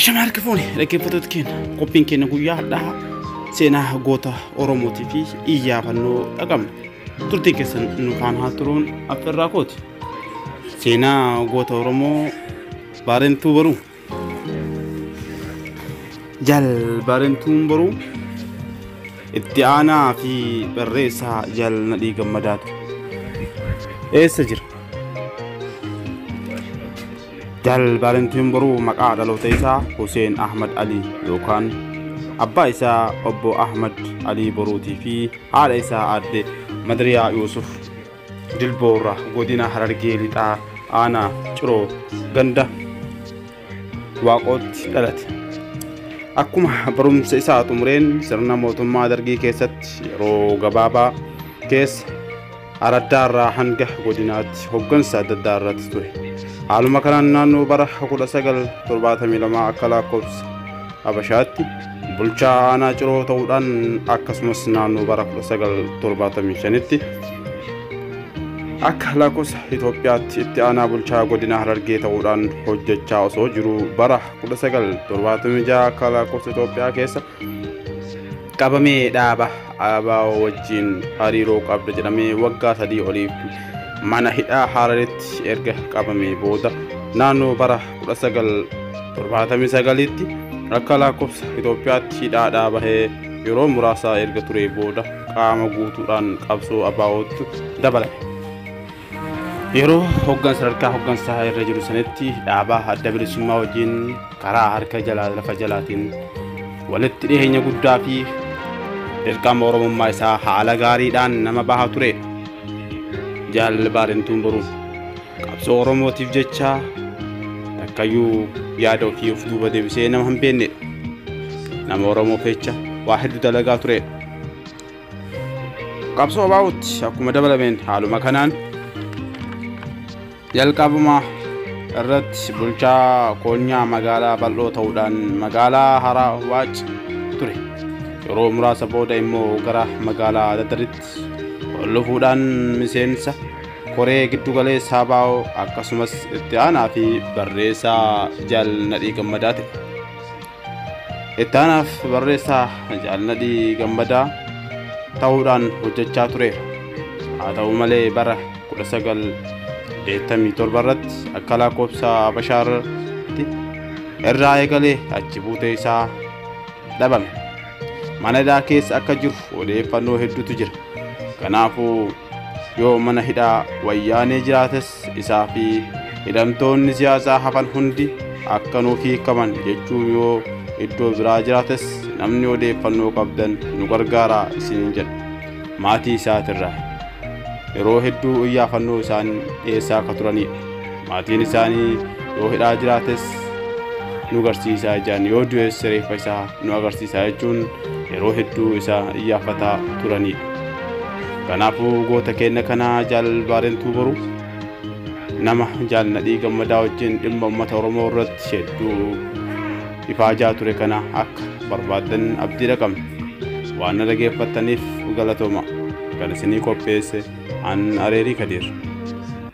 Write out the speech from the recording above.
Shama harka fuune dhaggeeffattoota keenya qophiin keenya guyyaa hadhaa seenaa goota Oromootii fi iyyaafannoo dhaqabna. Turtiin keessan nu kaan haa turuun affeerraa kooti. Seenaa goota Oromoo baarentuu baruu. Jal baarentuun baruu itti aanaa fi barreessaa jal nadhii gammadaatu. Eessa jira? Dal Vaalentiin Boruu maqaa dhaloota isaa Huseen Ahmad Alii yookaan abbaa isaa obbo Ahmad Alii Boruutii fi haadha isaa aadde Madriyaa Yuusuf Dilboorra godina Harargee Lixaa aanaa Ciroo ganda Waaqootti dhalate. Akkuma barumsa isaa xumureen sirna mootummaa dargii keessatti yeroo gabaabaa keessa araddaarraa hanga godinaatti hoggansa adda addaa irratti ture haaluma kanaan naannoo bara 1972 akka lakkoofsa habashaatti bulchaa aanaa ciroo ta'uudhaan akkasumas naannoo bara 1975tti akka lakkoofsa Itoophiyaatti itti aanaa bulchaa godina Harargee ta'uudhaan hojjechaa osoo jiru bara 1976 akka lakkoofsa Itoophiyaa keessa qabamee dhaaba ABO wajjin hariiroo qabda jedhamee waggaa sadii oliif mana hidhaa Hararitti erga qabamee booda naannoo bara 1979tti akka lakkoofsa Itoophiyaatti hidhaadhaa bahee yeroo muraasaa erga turee booda qaama guutuudhaan qabsoo ABO'tti dabalame. Yeroo hoggan sadarkaa hoggansaa irra jiru sanitti dhaabaa adda bilisummaa wajjin karaa harka jalaa lafa jalaatiin walitti dhiheenya guddaa fi dirqama oromummaa isaa haala gaariidhaan nama baha ture. Jaalalli baarentuun boruuf qabsoo oromootiif jecha takkayyuu yaada ofii of duuba deebisee nama hin beekne nama oromoof jecha waa hedduu dalagaa ture. qabsoo baa'utti akkuma dabalameen haaluma kanaan jalqabuma irratti bulchaa koonyaa magaalaa bal'oo ta'uudhaan magaalaa haraa waac ture yeroo muraasa booda immoo gara magaalaa dadaritti ol dhufuudhaan miseensa koree giddugaleessaa baa'oo akkasumas itti aanaa fi barreessaa jaal nadhii gammadaa ta'e Ittaanaaf barreessaa Jaalnadhii Gammadaa ta'uudhaan hojjechaa tureera. Haa ta'u malee bara 1987 irratti akka lakkoofsa Habashaarratti irraa eegalee achi buutee isaa dhabame. mana hidhaa keessa akka jiru odeeffannoo hedduutu jira kanaafuu yoo mana hidhaa wayyaanee jiraates isaa fi hidhamtoonni siyaasaa hafan hundi akka nuuf hiikaman jechuun yoo iddoo biraa jiraates namni odeeffannoo qabdan nu gargaaraa isiniin jedha maatii isaatirraa yeroo hedduu iyyaafannoo isaan dhiyeessaa akka turanidha. Maatiin isaanii yoo hidhaa jiraates nu garsiisaa ijaan yoo du'es reeffa isaa nu agarsiisaa jechuun yeroo hedduu isa iyyaafataa turanidha. Kanaafuu goota keenya kana jaal Baarentuu Boruu nama jaal Nadhii Gammadaa wajjin dhimma uummata Oromoo irratti hedduu ifaajaa ture kana akka barbaaddan abdiidha qabna. Waan na dhageeffattaniif galatooma. Kan isinii qopheesse an Areerii Kadiir.